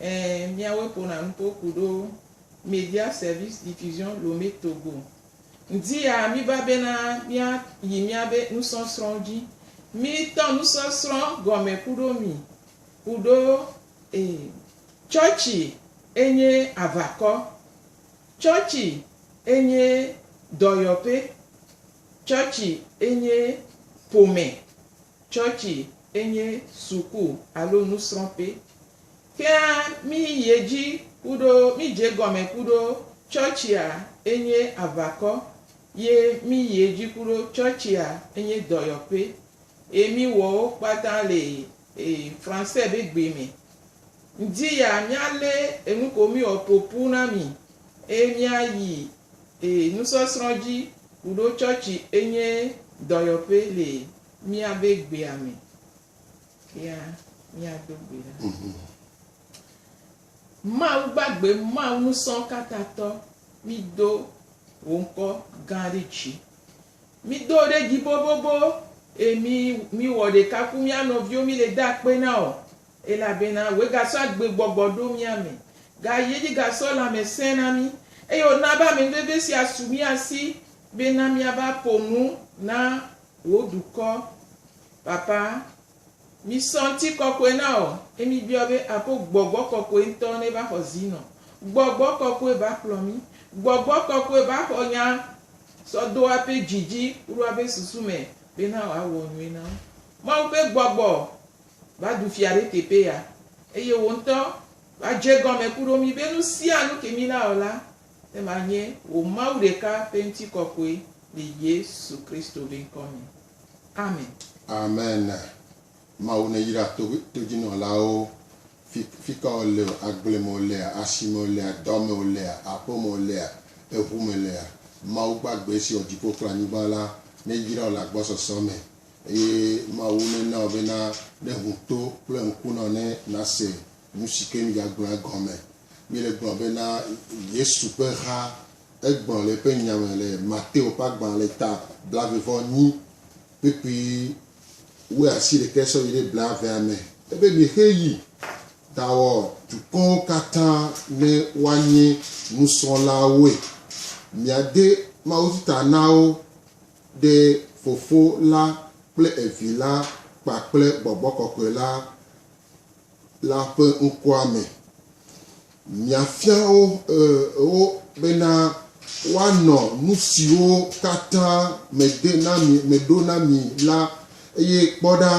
Ẽ, míawoe ƒona nu to ku ɖo Media Service Diffusion Lomé Togo ŋdi ya míva bena mía yi mía be nusɔsrɔ̃wo dzi. Mí tɔ nusɔsrɔ̃ gɔme ku ɖo mi ku ɖo e tsɔtsi e nye avakɔ, tsɔtsi e nye dɔyɔƒe, tsɔtsi e nye ƒome, Tsɔtsi enye suku alo nusrɔ̃ƒe. Kea mí yi edzi kuɖo mí dze egɔme kuɖo tsɔtsia enye aʋakɔ ye mí yi edzi kuɖo tsɔtsia enye dɔyɔƒe eye mí wɔ wo kpata le Français be gbe me. Ŋdi ya mía lé enu ko mí wɔ ƒoƒu na mi eye mía yi nusɔsrɔ̃ dzi kuɖo tsɔtsi enye dɔyɔƒe le míabe gbea me kea, míado gbe ɖa. Mhm. Mawu gbagbe, Mawu ŋusẽkatãtɔ, mído wò ŋkɔ gã ɖe dzi. Mído ɖe dzi bobobo eye mí míwɔ ɖeka ku mía nɔviwo míle de akpe na wò elabena wòe gasɔ agbegbɔgbɔ ɖo mía me, gayi edzi gasɔ lãmesẽ na mí eye wòna be amenuveve sia su mía si bena míava ƒo nu na Wò dukɔ, Papa, misɔ ŋti kɔkɔe na wò, ye mibiɔ be ako Gbɔgbɔ Kɔkɔe ŋtɔ ne va xɔ zi nɔ. Gbɔgbɔ Kɔkɔe ba kplɔ mi. Gbɔgbɔ Kɔkɔe ba xɔ nya sɔ do ape dzi dzi kuɖo ape susu me be na wòa wɔ nyui na wo. Mawu ƒe Gbɔgbɔ va du fia ɖe teƒe ya, eye wò ŋtɔ va dze gɔme kuɖo mi be nusianu ke mi na wɔ la, Ema nye wò Mawu ɖeka ƒe ŋutikɔkɔe le Yesu Kristo ƒe ŋkɔ me. Amen. Amen Mawu ne yra to to dzi nɔ la wo fi fika wo le o agble me wo lea asi me wo lea dɔ me wo lea aƒe me wo lea eʋu me lea Mawu gbagbe si wɔ dziƒo kple anyigba la ne yra wo le agbɔsɔsɔ me eye Mawu ne na wo be na ne ŋu to kple ŋku na wo ne na se nu si ke mi dza gblɔ la gɔme Míele gblɔm be na Yesu ƒe ha egblɔ le eƒe nya me le Mateo ƒe agbalẽ ta blaeve vɔ enyi kpekpe wu asi ɖekɛ sɔ yi ɖe blaevea me. Ebe mixe yi dawɔ dukɔwo katã ne woanye nusrɔ̃lawoe. Miade mawudi ta na wo ɖe Fofo la kple Evi la kpakple Gbɔgbɔ Kɔkɔe la. La ƒe ŋkɔa me. Miafia wo, e, wo bena woanɔ nu siwo katã mede na mi, meɖo na mi la, eye kpɔ ɖa,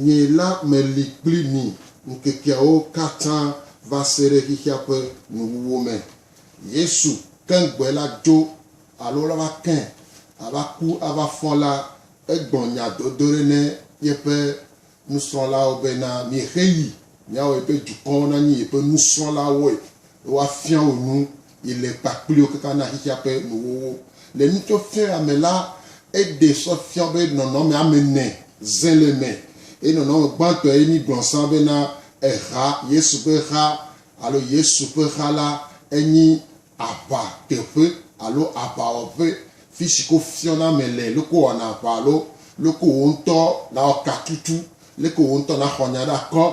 nye la meli kpli mi ŋkekeawo katã va se ɖe xexea ƒe nuwuwu me. Yesu keŋgbɔe la dzo alo la va ke ava ku ava fɔ la, egblɔ nya dodo ɖe ne yeƒe Nusrɔ̃lawo bena, Miexe yi miawɔe be dukɔwo nanyi yeƒe nusrɔ̃lawoe, be woafia wo nu yi le kpakpliwo kaka na xexea ƒe nuwuwuwo. Le nutsɔfiaɣia me la, eɖe sɔ fia wo be nɔnɔme ame ene ze le eme, eye nɔnɔme gbãtɔ ye míegblɔ zã bena eha, Yesu ƒe ha, alo Yesu ƒe ha la, enyi aʋa teƒe alo aʋawɔƒe fi si ko fiɔna ame le, leke wòwɔna aʋa alo leke wò ŋutɔ nawɔ katutu, leke wò ŋutɔ naxɔ nya ɖe akɔ,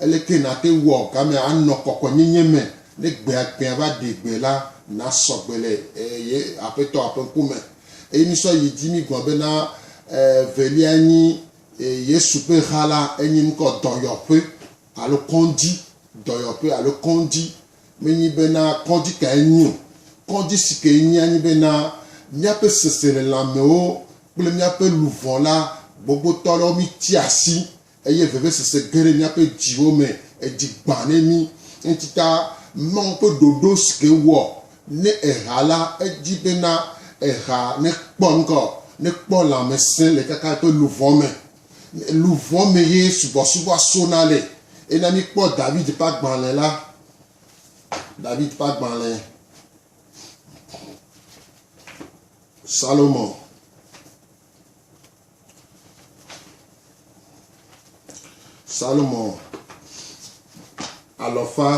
eleke nàte ŋu awɔ gamea anɔ kɔkɔenyenye me ne gbea gbea va ɖe gbe la, nasɔ gbe le ye Aƒetɔa ƒe ŋkume. Eye mísɔ yi dzi mígblɔ bena evelia nyi Yesu ƒe ha la, enye ŋkɔ dɔyɔƒe alo kɔdzi, dɔyɔƒe alo kɔdzi Menyi bena kɔdzi kae nyi o. Kɔdzi si ke enyia nye bena míaƒe seselelãmewo kple míaƒe luʋɔ la gbɔgbɔtɔ aɖewo mítia asi eye vevesese ge ɖe míaƒe dziwo me, edzi gbã ɖe mí. Eŋutita Mawu ƒe ɖoɖo si ke wɔ ne eha la, edi bena eha nekpɔ ŋgɔ, nekpɔ lãmesẽ le kaka eƒe luʋɔ me. Luʋɔ me ye subɔsubɔa sona le. Ena míkpɔ David ƒe agbalẽ la. David ƒe agbalẽ. Salomo. Salomo alɔfa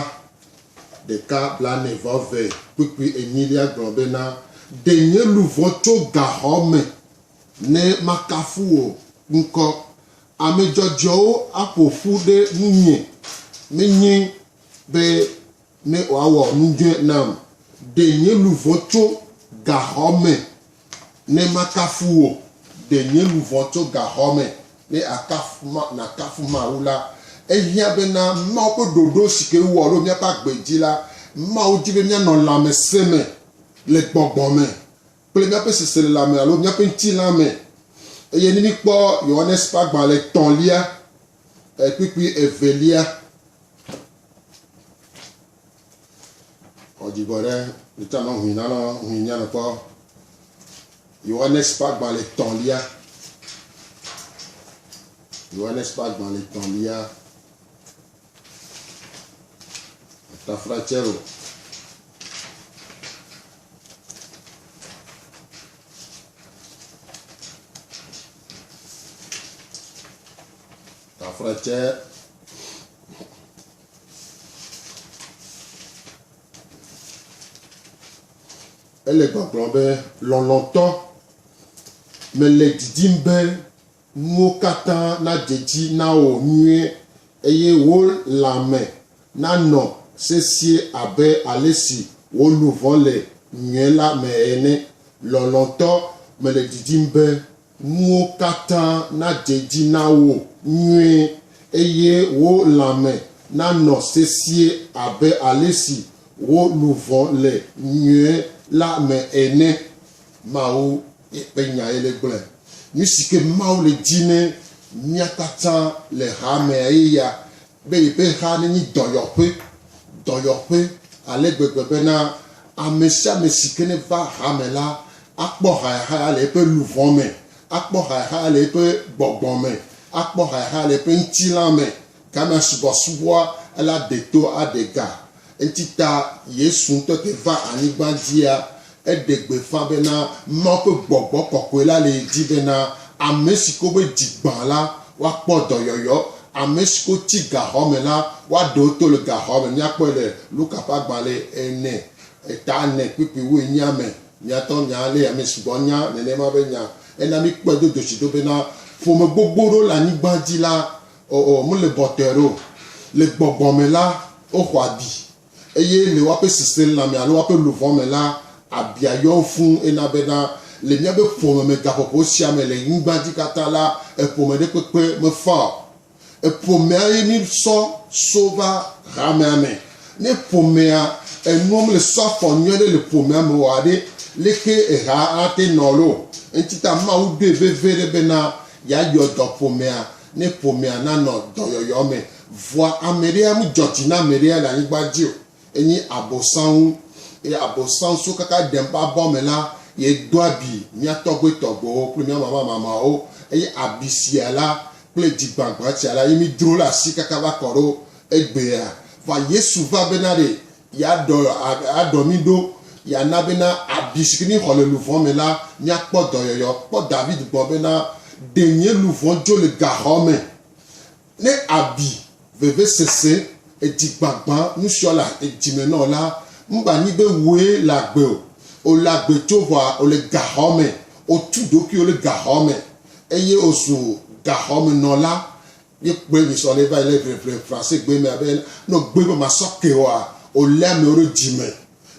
ɖeka blaene vɔ eve kpukpui enyilia gblɔ bena, Ɖe nye luʋɔ tso gaxɔ me Ne makafu wò ŋkɔ. Ame dzɔdzɔewo aƒo ƒu ɖe ŋunye, menye be ne wòawɔ nu dzɔe nam. Ɖe nye luʋɔ tso gaxɔ me ne makafu wò, ɖe nye luʋɔ tso gaxɔ me ne nakafu Mawu la. Ehiã bena Mawu ƒe ɖoɖo si ke wowɔ ɖo míaƒe agbe dzi la, Mawu di be míanɔ lãmesẽ me le gbɔgbɔ me. kple míaƒe seselelãme alo míaƒe ŋutilãme. Eye ne míkpɔ Yohanes ƒe agbalẽ etɔ̃lia, kpukpui evelia, xɔ dzigbɔ ɖe nita nɔ hui nanɔ hui nyanɔ kpɔ Yohanes ƒe agbalẽ etɔ̃lia. Yohanes ƒe agbalẽ etɔ̃lia. Ele gbɔgblɔm be, Lɔlɔ̃tɔ, mele didim be nuwo katã nadze edzi na wò nyuie, eye wò lãme nanɔ sesĩe abe ale si wò luʋɔ le nyuie la me ene. Lɔlɔ̃tɔ, mele didim be nuwo katã nadze edzi na wò nyuie, eye wò lãme nanɔ sesĩe abe ale si wò luʋɔ le nyuie la me ene. Mawu Eƒe nyae le gblɔe. Nusi ke Mawu le di ne mía katã le hamea ye ya be yeƒe ha nenyi dɔyɔƒe, dɔyɔƒe ale gbegbe bena ame sia ame si ke neva hame la akpɔ hayahaya le eƒe luʋɔ me, akpɔ hayahaya le eƒe gbɔgbɔ me, akpɔ hayahaya le eƒe ŋutilã me, Gamea subɔsubɔa ela ɖe to aɖe ga. Enti ta Yesu ŋutɔ ke va anyigba dzia eɖe gbeƒã bena Mawu ƒe gbɔgbɔ kɔkɔe la le ye dzi bena ame si ko be dzi gbã la woakpɔ dɔyɔyɔ, ame si ko tsi gaxɔ me la woaɖe wo to le gaxɔ me. Míakpɔe le Luka ƒe agbalẽ ene eta ene kpukpuiwue enyia me. Míatɔ nya ale ame sugbɔ nya nenema be nya. Ena míkpɔe dodotsiɖo bena ƒome gbogbo ɖewo le anyigba dzi la O, o, mele bɔtɔɛrɛ o. Le gbɔgbɔ me la, woxɔ abi, eye le woaƒe sesẽlãme alo woaƒe luʋɔ me la, abia yɔ wo fũu. Ena bena, le míaƒe ƒome me gaƒoƒo sia me le nyigba dzi katã la, eƒome ɖe kpekpe mefaa o. Eƒomea ye mísɔ so va hamea me. Ne ƒomea enuwo mele so afɔ nyui aɖe le ƒomea me oa ɖe, leke ehaa ate nɔ loo? Eŋti ta Mawu ɖoe vevie ɖe bena yeayɔ dɔ ƒomea Ne ƒomea nanɔ dɔyɔyɔ me vɔa, ame ɖea medzɔ dzi na ame ɖea le anyigba dzi o, enye Abosam wu. Eye Abosam so kaka ɖem ƒe abɔ me la, ye do abi mía tɔgbui tɔgbuiwo kple mía mama mamawo, eye abi sia la kple dzi gbagbã sia la ye mí dro ɖe asi kaka va kɔ ɖo egbea. Vɔa Yesu va bena ɖe Yeadɔ, adɔ mí ɖo, yeana bena abi si ke míexɔ le luvɔ̃ me la, míakpɔ dɔyɔyɔ. Kpɔ David gbɔ bena, Ɖe nye luvɔ̃ dzo le gaxɔ me, ne abi, vevesese, edzigbagbã, nusiɔ le dzime nɔ la, mba nyi be wòe le agbe o. Wòle agbe tso ʋɔa wòle gaxɔ me, wòtu ɖokuiwo ɖe gaxɔ me, eye wòzu gaxɔmenɔla Míekpɔe le srɔ̃ɖe va yi le Ʋeʋẽ Fransegbe mea be ne wogbe be masɔke oa, wolé amewo ɖo dzi me.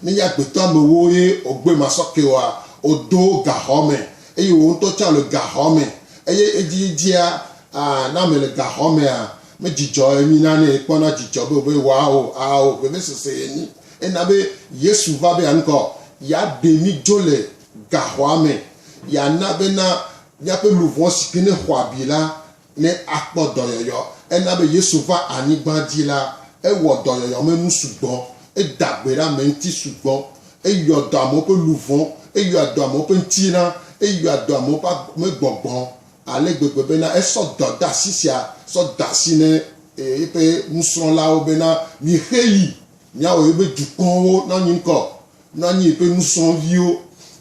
Nenye agbetɔ amewo ye wogbe masɔke oa, wodo wo gaxɔ me eye wò ŋutɔ tsã le gaxɔ me. Eye edzidzidzea, a, ne ame le gaxɔ mea, medzidzɔ enyi na nɛ, ekpɔna dzidzɔ be wòbe woao, ao, vevesese ye nyi. Ena be Yesu va be yeaŋkɔ yeaɖe mí dzo le gaxɔa me, yeana bena míaƒe luʋɔ si ke ne xɔ abi la, Ne akpɔ dɔyɔyɔ. Ena be Yesu va anyigba dzi la, ewɔ dɔyɔyɔmenu sugbɔ. Eda gbe ɖe ame ŋuti sugbɔ. Eyɔ dɔ amewo ƒe luʋɔ. Eyɔa dɔ amewo ƒe ŋutilã. Eyɔa dɔ amewo ƒe ame gbɔgbɔ ale gbegbe bena esɔ dɔdeasi sia sɔ de asi ne eƒe nusrɔ̃lawo bena, Mixe yi, miawɔ yeƒe dukɔwo nanyi ŋkɔ. Nɔ anyi ƒe nusrɔ̃viwo,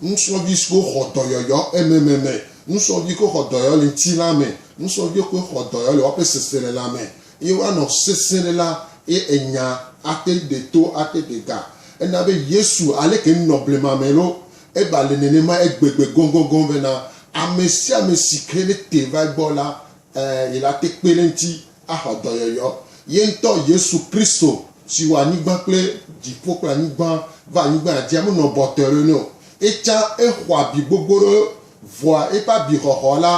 nusrɔ̃vi siwo xɔ dɔyɔyɔ ememe me, nusrɔ̃vi siwo xɔ dɔyɔyɔ le ŋutilã me, nusrɔ̃vi siwo xɔ dɔyɔyɔ le woƒe seselelã me, eye woanɔ sesẽ ɖe la, eye enya ate ɖe to, ate ɖe ga. Ena be Yesu, aleke nunɔ blema me ɖo, eva le nenema egbegbe gɔgɔgɔ bena, ame sia ame si ke nete va egbɔ la, ẽ, yelate kpe ɖe eŋuti axɔ dɔyɔyɔ. Ye ŋutɔ Yesu Kristo si wɔ anyigba kple dziƒo kple anyigba va anyigba dzia, menɔ bɔtɔe ɖo nɛ o. Etsã exɔ abi gbogbo ɖe vɔa eƒe abixɔxɔ la,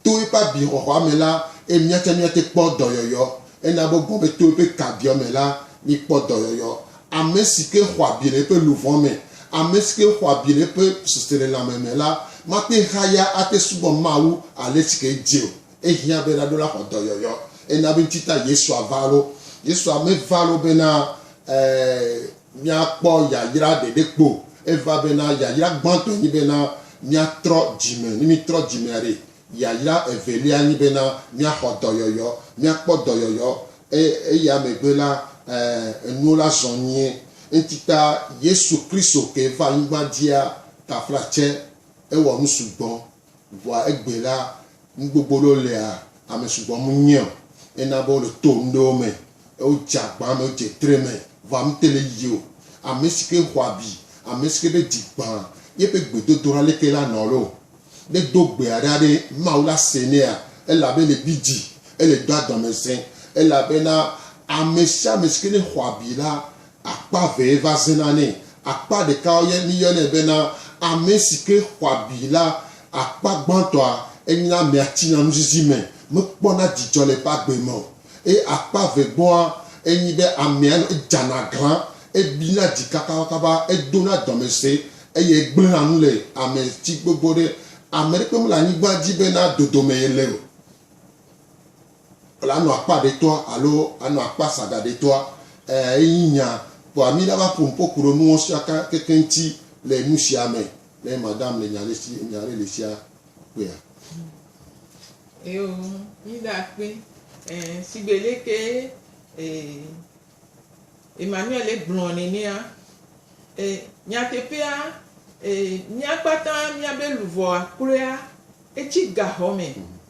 to eƒe abixɔxɔa me la, eye mía tsɛ míate kpɔ dɔyɔyɔ. Ena be gbɔgbe to eƒe kabiɔ me la, míkpɔ dɔyɔyɔ. Ame si ke xɔ abi le eƒe luʋɔ me, ame si ke xɔ abi le eƒe seselelãme me la, mate ŋu ahaya ate subɔ Mawu ale si ke edze o. Ehiã be ɖaɖola xɔ dɔyɔyɔ ena be ŋuti ta Yesua va lo. Yesua meva lo bena míakpɔ yayra ɖeɖe kpo o. Eva bena yayra gbãtɔe nyi bena míatrɔ dzime. Ne míetrɔ dzimea ɖe, yayra evelia nyi bena míaxɔ dɔyɔyɔ, míakpɔ dɔyɔyɔ eya megbe la, enuwo la zɔ nyuie. Ŋuti ta Yesu Kristo ke va anyigba dzia taflatse. Ewɔ nu sugbɔ. Vɔa egbɛ la, nu gbogbo ɖewo lia, ame sugbɔ mu nyɛ o. Ena be wo le to ŋɖewo me, e wo dze agba me, wo dze tre me. Vɔa ame te le yiyi o. Amesike xɔ abi, amesike be dzi gbã yeƒe gbedodoɖa leke la nɔ loo, ne do gbea ɖa ɖe, Mawu la se nɛa? Ela be le gbidzi, ele do adɔmesẽ, elabena amesiame sike ne xɔ abi la, Akpa evee va zena nɛ. Akpa ɖeka yɔe míyɔnɛ bena ame si ke xɔ abi la. Akpa gbãtɔa, enyea amea tsina nuzizi me, mekpɔna dzidzɔ le eƒe agbe me o. Eye akpa eve gbɔa, enye be amea nɔ edzana aglã, ebina dzi kabakaba, edona dɔme se eye egblẽna nu le ame dzi gbogbo ɖe. Ame aɖeke mele anyigba dzi bena dodome yele o. Le anɔ akpa ɖetɔa alo anɔ akpa saga ɖetɔa? Ẽ, enyi nya. Kpɔa mí la va ƒo nu ƒo ku ɖe nuwo sia ka kekeŋ ŋuti le nu sia me ne madam le nya ɖe si, nya ɖe li sia kpea. Eo, mí ɖa kpe. Ẽ, shigbe le ke e, Emmanuel gblɔ nenea, e, nyateƒea, e, mía kpata mía be luvɔa kloea etsi gaxɔ me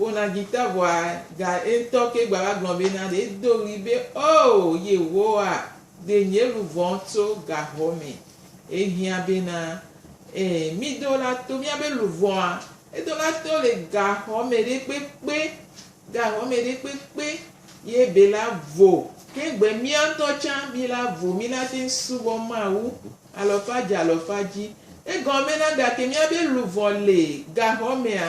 Wona dzita vɔa ga eŋtɔ ke gbava gblɔ be na ɖe edo ɣli be oo Yehowa de nye luvɔ tso gaxɔ me. Ehiã be na ee mi do la to mia be luvɔa edo la to le gaxɔ me ɖe kpekpe gaxɔ me ɖe kpekpe ye be la vo. Ke gbe mia ŋtɔ tsã mi la vo mi la te ŋ subɔ Mawu alɔfadzi alɔfadzi. Egɔme na gake mia be luvɔ le gaxɔ mea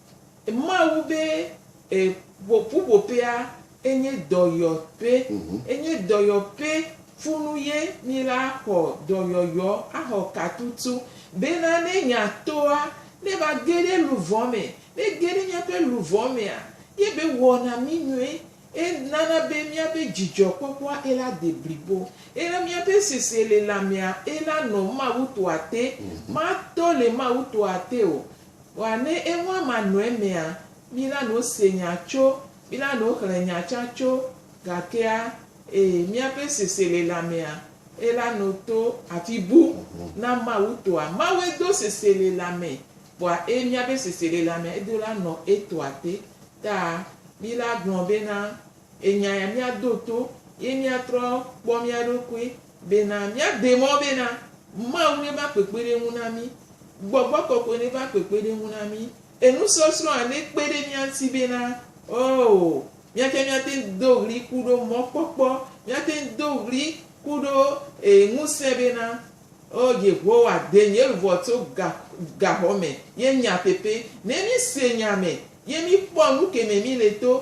Mawu be e ƒuƒoƒea enye dɔyɔƒe. Enye dɔyɔƒe funu ye mi la xɔ dɔyɔyɔ axɔ katutu bena ne nya toa ne va ge ɖe luvɔ me. Ne ge ɖe miaƒe luvɔ mea ye be wɔna mi nyuie. E nana be miabe dzidzɔ kpɔkpɔa e la de blibo. Ena miaƒe sesielelãmea e la nɔ Mawu toa te. Ma tɔ le Mawu toa te o. Wa ne eŋɔ ama nɔ emea, mi la no se nya tso, mi la no xlẽ nya tsã tso, gakea, ee, miaƒe seselelamea, ela no to afi bu na Mawu toa. Mawue do seselelame, vɔa ee, miaƒe seselelamea edo la nɔ etoa te. Ta mi la gblɔ bena, Enya ya mia do to, ye mia trɔ kpɔ mia ɖokui, Bena míagbee mɔ bena, Mawu neva kpekpeɖeŋu na mí, Gbɔgbɔ Kɔkɔe neva kpekpeɖeŋu na mí, enusɔsrɔ̃ hã nekpe ɖe mía ŋuti bena, Oo, míate míate ŋu do ɣli ku ɖo mɔkpɔkpɔ, míate ŋu do ɣli ku ɖo e ŋusẽ bena, Oo Yehowa, de nye luʋɔ tso ga gaxɔ me, ye nyateƒe, ne míse nya me, ye míkpɔ nu keme míle to,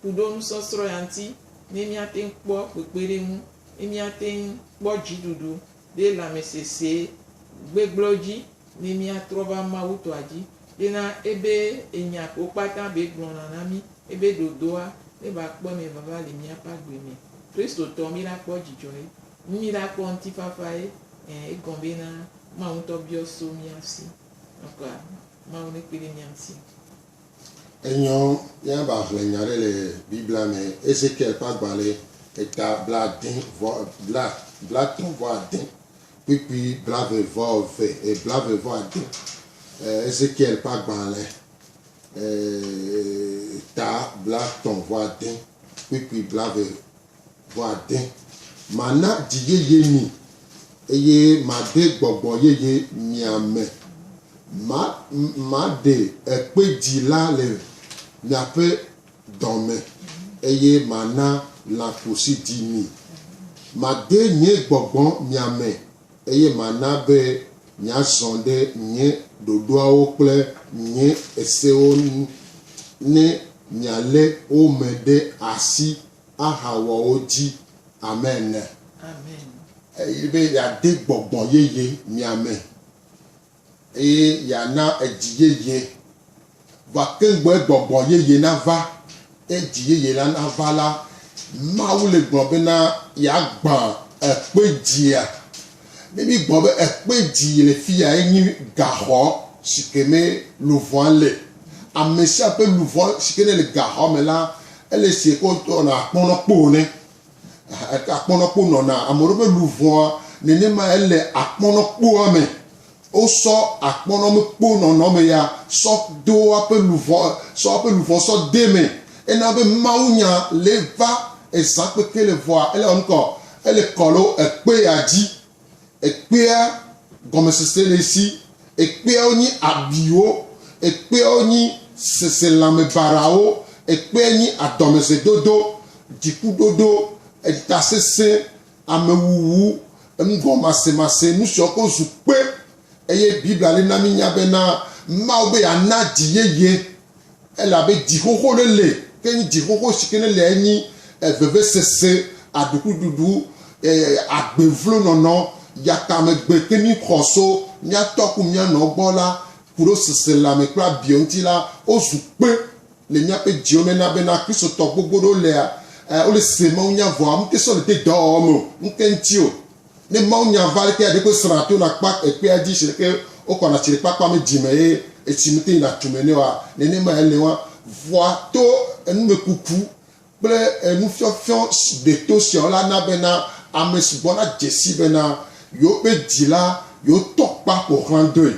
ku ɖo nusɔsrɔ̃ ya ŋuti ne míate ŋu kpɔ kpekpeɖeŋu, ne míate ŋu kpɔ dziɖuɖu ɖe lãmesesẽ gbegblẽwo dzi, ne míatrɔ va Mawu tɔa dzi, bena ebe enya ko kpata be gblɔna na mí, ebe ɖoɖoa ne va kpɔ mɛ vava le míaƒe agbe mɛ. Kristotɔ, míla kpɔ dzidzɔ ye, míla kpɔ ŋutifafa ye, ẽ, egɔme bena Mawu ŋutɔ biɔ so mía si. Nɔkɔ a, Mawu nekpe ɖe mía ŋuti. Enyɔ míava hlẽ nya aɖe le Biblia me, Ezekiel ƒe agbalẽ eta blaade vɔ, bla, blatɔ̃ vɔ ade, kpukpui blave vɔ eve, e, blave vɔ ade. E, Ezekiel ƒe agbalẽ e, eta blatɔ̃ vɔ ade, kpukpui blave Ƒeade. Mana dzi yeye mi, eye made gbɔgbɔ yeye mia me. Ma, maɖe ekpe dzi la le miaƒe dɔme, eye mana lãƒo si ɖi mi. Made nye gbɔgbɔ mia me, eye mana be miazɔ ɖe nye ɖoɖoawo kple nye sewo nu, ne mialé wo me ɖe asi. ahawɔ wo dzi ame ene. Eye be yeade gbɔgbɔ yeye mia me, eye yeana edzi yeye, vɔ ke gbɔe gbɔgbɔ yeye nava, eye dzi yeye la nava la, Mawu le gblɔ bena yeagbã ekpe dzia. Ne mígblɔ be ekpe dzi le fi ya enye gaxɔ si ke me luʋɔa le. Ame sia ƒe luʋɔ si ke nele gaxɔa me la, ele si ke woyɔna akpɔnɔkpo ene. Akpɔnɔkpo nɔna ame ɖewo ƒe luʋɔa nenema ele akpɔnɔkpoa me. Wosɔ akpɔnɔmekpo nɔnɔme ya sɔ do eƒe luʋɔ sɔ eƒe luʋɔ sɔ de me. Ena be mawunya le va ezã kpekpe le vɔa ele ɔnukɔ ele kɔ lo ekpe ya dzi. Ekpea gɔmesese le esi. Ekpeawo nyi abiwo. Ekpeawo nyi seselãmebarawo. Ekpea nyi adɔmezedodo, dzikuɖoɖo, etasesẽ, amewuwu, enugɔmasemase, nu siwo katã zu kpe. Eye Biblia li na mínya bena Mawu be yeana dzi yeye, elabe dzixoxo ɖe li ke nyi dzixoxo si ke neliae nyi vevesese, aɖukliɖuɖu, agbevlonɔnɔ, yatamegbe ke mí xɔ so mía tɔ ku mía nɔ gbɔ la, ku ɖo seselãme kple abiɔ ŋuti la, wozu kpe. Le míaƒe dziwo me na bena Kristotɔ gbogbo ɖewo lea, eh, wole se mawunya vɔa ŋute sɔ le de dɔwɔwɔ me o, ŋke ŋti o. Ne mawunya va ɖekea ɖekpe srɔna to na kpa ekpea dzi siɖeke wokɔna tsi ɖe kpakpa me dzi me eye etsi mete ŋu na tu me nɛ oa, nenemae ele wɔa, vɔa to enumekuku kple enufiɔfiɔ si deto sia o la na bena ame si gbɔna dze sii bena yewoƒe dzi la yewo tɔ kpa ƒo xlã doe,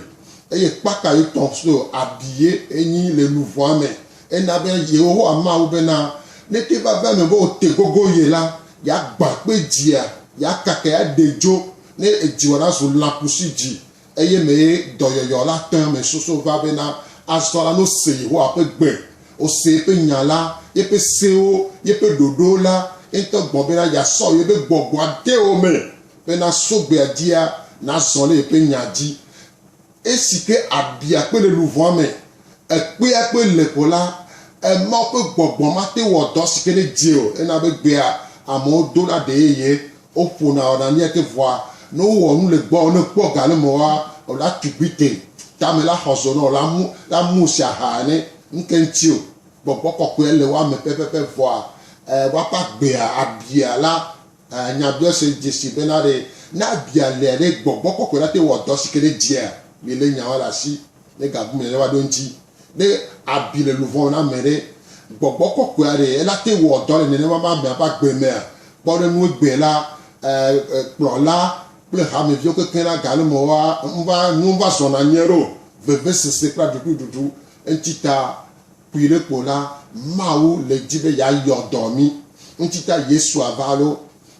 eye kpata yewo tɔ so abi ye enyi le luʋɔa me. Ena be Yehowa ma wo bena neke vavã me be wote gogo ye la, yeagbã kpe dzia, yeakakae aɖee dzo, ne edziwɔ nazu lãkusidzi, Eye mee dɔyɔyɔ la te ame susuwo va be na azɔ la, ne wose Yehowa ƒe gbe, wose yeƒe nya la, yeƒe sewo, yeƒe ɖoɖowo la, ye ŋutɔ gbɔ bena yeasɔ yeƒe gbɔgbɔ ade wo me be naso gbea dzia, nazɔ ɖe yeƒe nya dzi. Esi ke abia kpe le luʋɔa me, ekpea kpe le ko la, Mawu ƒe gbɔgbɔ mate ŋu wɔ dɔ si ke nedze o hena be gbea amewo do la ɖe yeye. Woƒona ɔnania te vɔa ne wo wɔ nu le gbɔɔ ne kpɔ ga le mɔa o la tugbi te tame la xɔ zonɔ la mu la mu si aha ene ŋke ŋti o gbɔgbɔ kɔkɔea le woa me pɛpɛpɛ vɔa e woaƒe agbea abia la e nya biɔ se dzesi bena ɖe ne abia lea ɖe gbɔgbɔ kɔkɔe la te wɔ dɔ sike ɖe dzia mi le nyaoa le asi. Ne ga gumɛ ɖe wa ɖo ŋtsi ne abi le luvɔn na mɛ ɖe, gbɔgbɔ kɔkɔɛ a ɖe ela te wɔ dɔ le nɛnɛma ma mɛ ƒe agbe mɛa? Kpɔ ɖe nu egbɛ la, kplɔ la kple hame viwo kekeŋ la ga nu mɔ wa ŋva, nuwo ŋva zɔna nyuiɖe o, vevesese kple aɖuiɖuɖuɖu ŋtsi ta Kpui ɖe kpo la, Mawu le di be yeayɔ dɔ mí. Ŋuti ta Yesua va ɖo.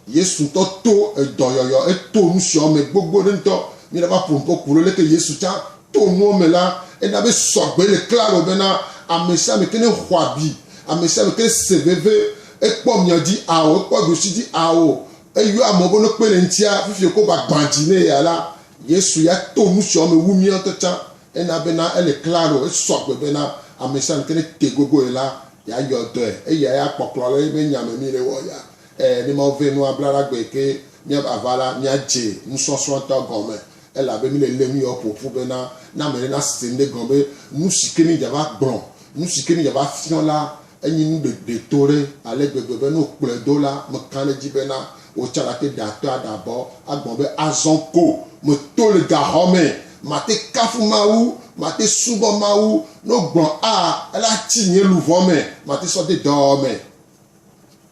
Yesu ŋutɔ to edɔyɔyɔ, eto nusiɔ me gbogbo ɖe ŋutɔ. Mí la va ƒo ŋuƒo ku ɖo leke Yesu tsã to nuɔ me la, ena be sɔgbe le klalo bena amesiame ke ne xɔ abi, amesiame ke ne se veve, ekpɔ mia dzi ao, ekpɔ ɖusi dzi ao, eyɔ amewo be no kpe le ŋutia, fifi wokɔ va gbã dzi ne eya la, Yesu ya to nusiɔ me wu mía ŋutɔ tsã. Ena bena ele klaro, esɔ agbe bena amesiamesi ne te gogoe la, yeayɔ dɔe. Eyae akpɔ klɔ le eƒe nya me mí le wɔ ya. Ẽ, ne Mawu vɛ nua bla ɖa gbe ke míava va la, míadze nusɔsrɔ̃ ŋutɔ gɔme, elabe míle lém yɔ ƒo ƒu bena, ne ame ɖe nase ŋɖe gɔme be, nusi ke mídzava gblɔ, nusi ke mídzava fiɔ la, Enyi nu ɖeɖetoɖe ale gbegbe be ne wokplɔe do la, meka ɖe edzi bena wò tsã nàte ɖe atɔe aɖe abɔ agbɔ̃ be, Azɔ ko meto le gaxɔ me, mate kafu Mawu, mate subɔ Mawu, ne wogblɔ a, ele atsi nye luʋɔ me, mate sɔ de dɔwɔwɔ me.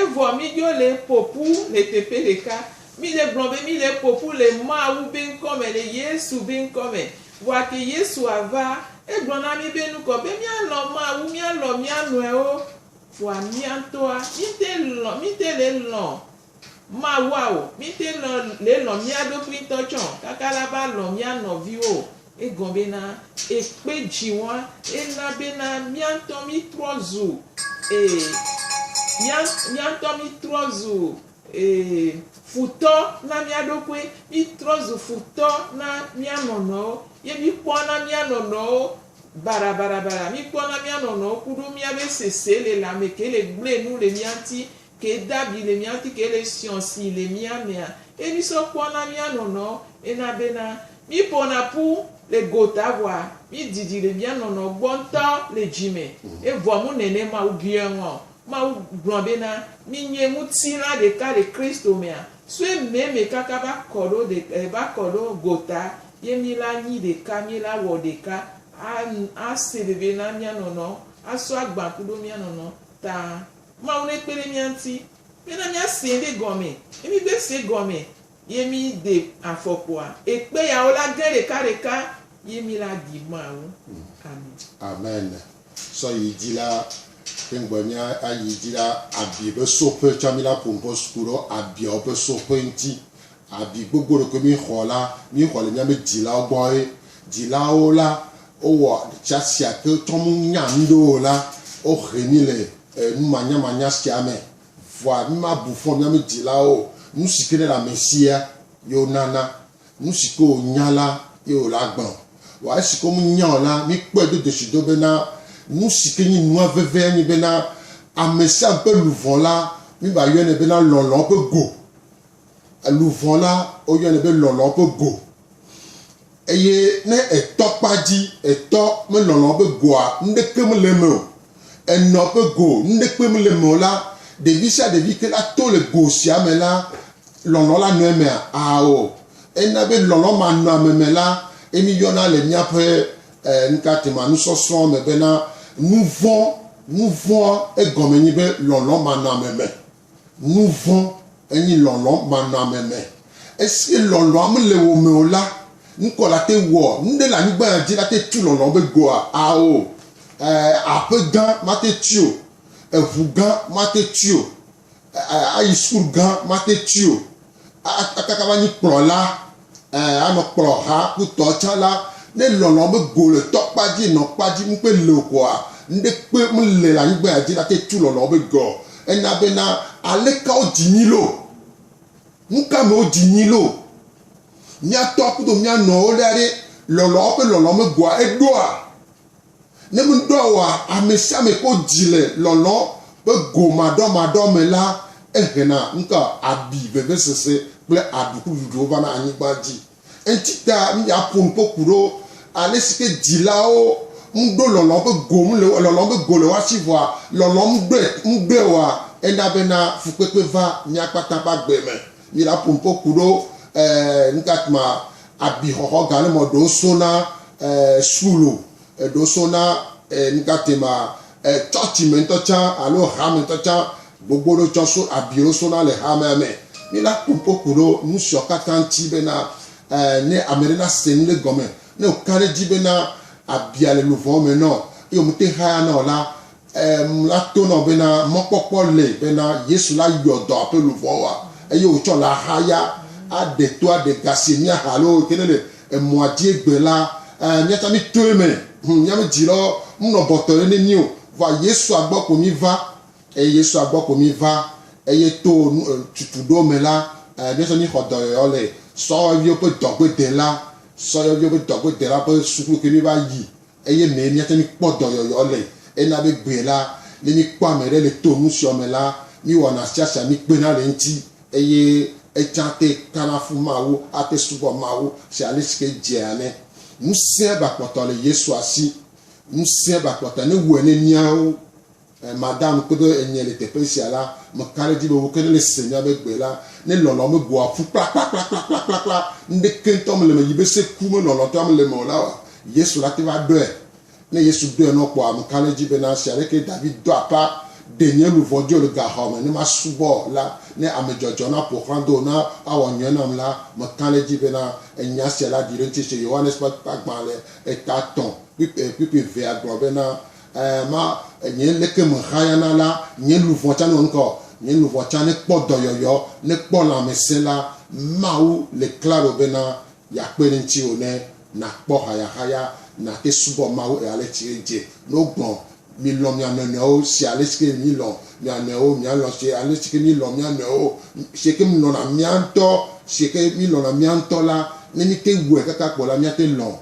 Evɔ míɖo le ƒo ƒu le teƒe ɖeka. Mí le gblɔ be mí le ƒo ƒu le Mawu be ŋkɔ me, le Yesu be ŋkɔ me. Vɔa ke Yesu a va, é gblɔ na mí be nukɔ be mía lɔ̃ Mawu, mía lɔ̃ mía nɔɛwo. Vɔa mía ŋtɔa, mí te lɔ̃, mí te le lɔ̃ Mawua o. Mí te lɔ̃ le lɔ̃ mía ɖokui ŋtɔ tsɔ o kaka la va lɔ̃ mía nɔviwo o. Egɔme bena, ekpe dzi wɔa, ena bena mía ŋutɔ mítrɔ zu, ee, mía, mía ŋutɔ mítrɔ zu, ee, futɔ na mía ɖokui. Mítrɔ zu futɔ na mía nɔnɔewo. Ye míkpɔa na mía nɔnɔewo barabarabara. Míkpɔa na mía nɔnɔewo ku ɖo míabe seselelãme ke le gblẽ nu le mía ŋuti. Ke dabi le mía ŋuti, ke le siɔ si le mía mea, ke mí sɔ kpɔ na mía nɔnɔ ena bena, mí ƒona ƒu le gota vɔa mí didi le mía nɔnɔ gbɔ ŋutɔ le dzi me. Evɔ mu nɛnɛ Mawu biɔɛ ŋɔ. Mawu gblɔ bena, Mi nye ŋutilã ɖeka le Kristo mea, soe mɛ mɛ kaka va kɔ ɖo de e va kɔ ɖo gota ye mí la nyi ɖeka, mí la wɔ ɖeka a a se veve na mía nɔnɔ a sɔ agban kuɖo mía nɔnɔ ta. Mawu nekpe ɖe mía ŋuti bena míasee ɖe gɔme. Ne mígbe see gɔme ye míde afɔkpoa, ekpe yawo la ge ɖekaɖeka ye mí la ɖi Mawu. Amen. Amen. Sɔ yi dzi la, ke ŋgbe mía ayi dzi la, abi be soƒe tsɔ mí la ku ŋkɔ suku ɖo abiawo ƒe soƒe ŋuti. Abi gbogbo ɖekoe míexɔ la, míexɔ le míaƒe dzilawo gbɔ. Dzilawo la, wowɔ ɖeka sia ke tsɔ nu nya nu ɖe o la, wohe mí le nu manyamanya sia me. Vɔa mímabu fɔ míaƒe dzilawo o. Nu si ke ne le ame sia ye wonana. Nu si ke wònya la ye wòle agblɔ. Vɔa esi ke womenya o la, míkpɔe do dzesi do bena nu si ke nye nua vevia nye bena ame sia ame ƒe luʋɔ la, míva yɔnɛ bena lɔlɔ̃ ƒe go. Luʋɔ la, woyɔnɛ be lɔlɔ ƒe go. Eye ne etɔ kpa dzi, etɔ melɔlɔ ƒe goa, nuɖeke mele eme o. Enɔ ƒe go, nuɖekpe mele eme o la, ɖevi sia ɖevi ke la to le go sia me la, lɔlɔ la nɔ emea? Ao. Ena be lɔlɔ ma nɔ ame me la, ye mi yɔna le míaƒe eh, nukate ma, nusɔsrɔ̃ me bena nuvɔ̃. Nuvɔ̃a egɔme nye be lɔlɔ ma nɔ ame me. Nu vɔ̃ enyi lɔlɔ manɔame me. Esi lɔlɔa mele wò me o la, nukɔ la te wɔ nuɖe le anyigba ya dzi la te tu lɔlɔ be goa? Ao. Ɛɛ, aƒe gã mate tui o, eŋu gã mate tui o, ɛɛ, ayi sukulu gã mate tui o. Akaka va nyi kplɔla, ɛ anɔ kplɔ ha ku tɔ tsa la, ne lɔlɔ me go le tɔ kpa dzi nɔ kpa dzi ŋ kpe le o koa, ŋɖe kpe ŋ le le anyigba ya dzi na te tu lɔlɔ be ge o. Ena be na aleka wo dzi nyi lo? Nuka me wo dzi nyi lo? Mia tɔ kudo mia nɔwo ɖa ɖe lɔlɔ be lɔlɔ me goa eɖoa? Ne ŋdɔ wɔa amesiame ƒe dzi le lɔlɔ̃ ƒe go maɖɔmaɖɔ me la, ehena ŋutɔ abi, vevesese kple aɖukududwo vana anyigba dzi. Eŋtita miaƒo nu ƒo ƒu ɖo alesike dzilawo ŋɖo lɔlɔ̃ ƒe go ŋu le lɔlɔ̃ ƒe go le woasi vɔa lɔlɔ̃ ŋɖɔe ŋɖɔe wɔa ena bena fukpekpe va mia kpata ƒe agbe me. Mi la pumpo kuɖo eh, ntatma abi xɔxɔ ga ne mɔ ɖo so na eh, sulo, ɖo so na eh, ntatema eh, chɔchi me ŋutɔ tsã alo ha me ŋutɔ tsã gbogbo ɖo tsɔ so abiwo so na le ha mea me. Mi la pumpo kuɖo nusiɔ katã ŋuti bena eh, ne ame ɖe na se nu ɖe gɔme, ne wòka ɖe dzi bena abia le luvɔwo me nɔ, eye wòmete haya nɔ la, Em la tonɔ bena mɔkpɔkpɔ le bena Yesu la yɔ dɔa ƒe luʋɔa eye wòtsɔ le ahaya aɖe to aɖe ga si míaha alo yi ke nele emɔa dzi egbe la. Em míata mí toe me. Hum mía me dzi lɔ mnɔ bɔtɔ ɖe ne mí o. Vɔa Yesua gbɔ ko mí va eye Yesua gbɔ ko mí va eye to nu em tutu ɖewo me la, em míatsɔ mí xɔ dɔyɔyɔ le sɔhɔviwo ƒe dɔgbedela, sɔyɔviwo ƒe dɔgbedela ƒe suku yi ke mí va yi Eye mee míate ŋu kpɔ dɔyɔyɔ le, ena be gbee la, ne míkpɔ ame ɖe le to nu siɔ me la, míwɔna sia sia míkpena le eŋuti, eye etsã te kana fu Mawu ate subɔ Mawu se ale si ke edzea ene. Ŋusẽ ba kpɔtɔ le Yesua si. Ŋusẽ ba kpɔtɔ ne wu ene míawo. Madame kpedo enye le teƒe sia la, meka ɖe edzi be wo ke ne le se nya be gbe la, ne lɔlɔ me goa ƒu kplakplakplakplakplakplakpla, nuɖeke ŋutɔ mele eme yi be se ku me lɔlɔtɔa mele eme o la wɔa, Yesu la te va ɖɔe. Ne Yesu ɖɔe nɔ kpɔa, meka ɖe edzi be na zi aɖeke David do apa ɖe nye luʋɔ dzi o le gaxɔ me ne masubɔ la, ne ame dzɔdzɔ na ƒo xlã do ne awɔ nyuie nam la, meka ɖe edzi be na enya sia la ɖi ɖe ŋutinye. Yohanes ƒe akpa gbã le eta tɔ̃ kpukpekpukpevea gblɔ be na Ẽ, ma, nye leke mehayana la, nye luʋɔ tsã newɔ nukɔ, nye luʋɔ tsã nekpɔ dɔyɔyɔ, nekpɔ lãmesẽ la, Mawu le klalo bena yeakpe ɖe ŋutiwò ne nàkpɔ hayahaya, nàte subɔ Mawu ɣe ale si edze nɔ gbɔ. Milɔ̃ mia nɔ nɔewo se ale si ke milɔ̃ mia nɔewo, mialɔ̃ se ale si ke milɔ̃ mia nɔewo. Se ke milɔ̃na mia ŋutɔ, se ke milɔ̃na mia ŋutɔ la, ne mite wɔe kaka kpo la, miate lɔ̃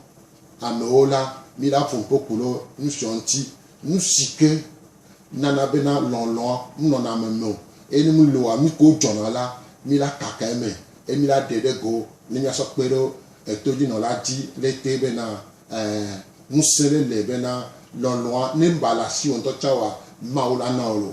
Amewo la, miɖa ƒo ŋkpokpo ɖo nusiɔ ŋti, nusike nana bena lɔlɔa mnɔna ame meo, eye ne mloa nuke wo dzɔna la, mila kaka eme, eye mila ɖe ɖe go ne miasɔ kpe ɖe etodzinɔla dzi ɣletee bena, ẽ, ŋuse ɖe le bena lɔlɔa ne mba le asiwò ŋtɔ tsã oa, Mawu la na wò lo.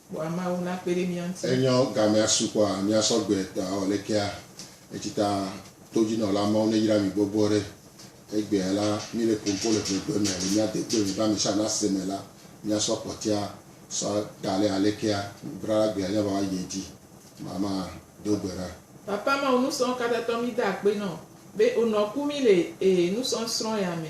Kpɔa Mawu nakpe ɖe mía ŋuti. Enyɔ gamea su kpɔa mía sɔgbe tɔ awɔ lekea etsita todjinɔla Mawu ne yra mi gbɔgbɔ ɖe. Egbea la mi le pompo le ƒegbe me le mía degbe me be amesha nase me la mía sɔ kpɔtia sɔ da le alekea nudrala gbea nya va wa yie dji ma ma do gbe ɖa. Papa Mawu nusɔn katatɔ mi da akpe nɔ be onɔ ku mi le e nusɔn srɔn ya me.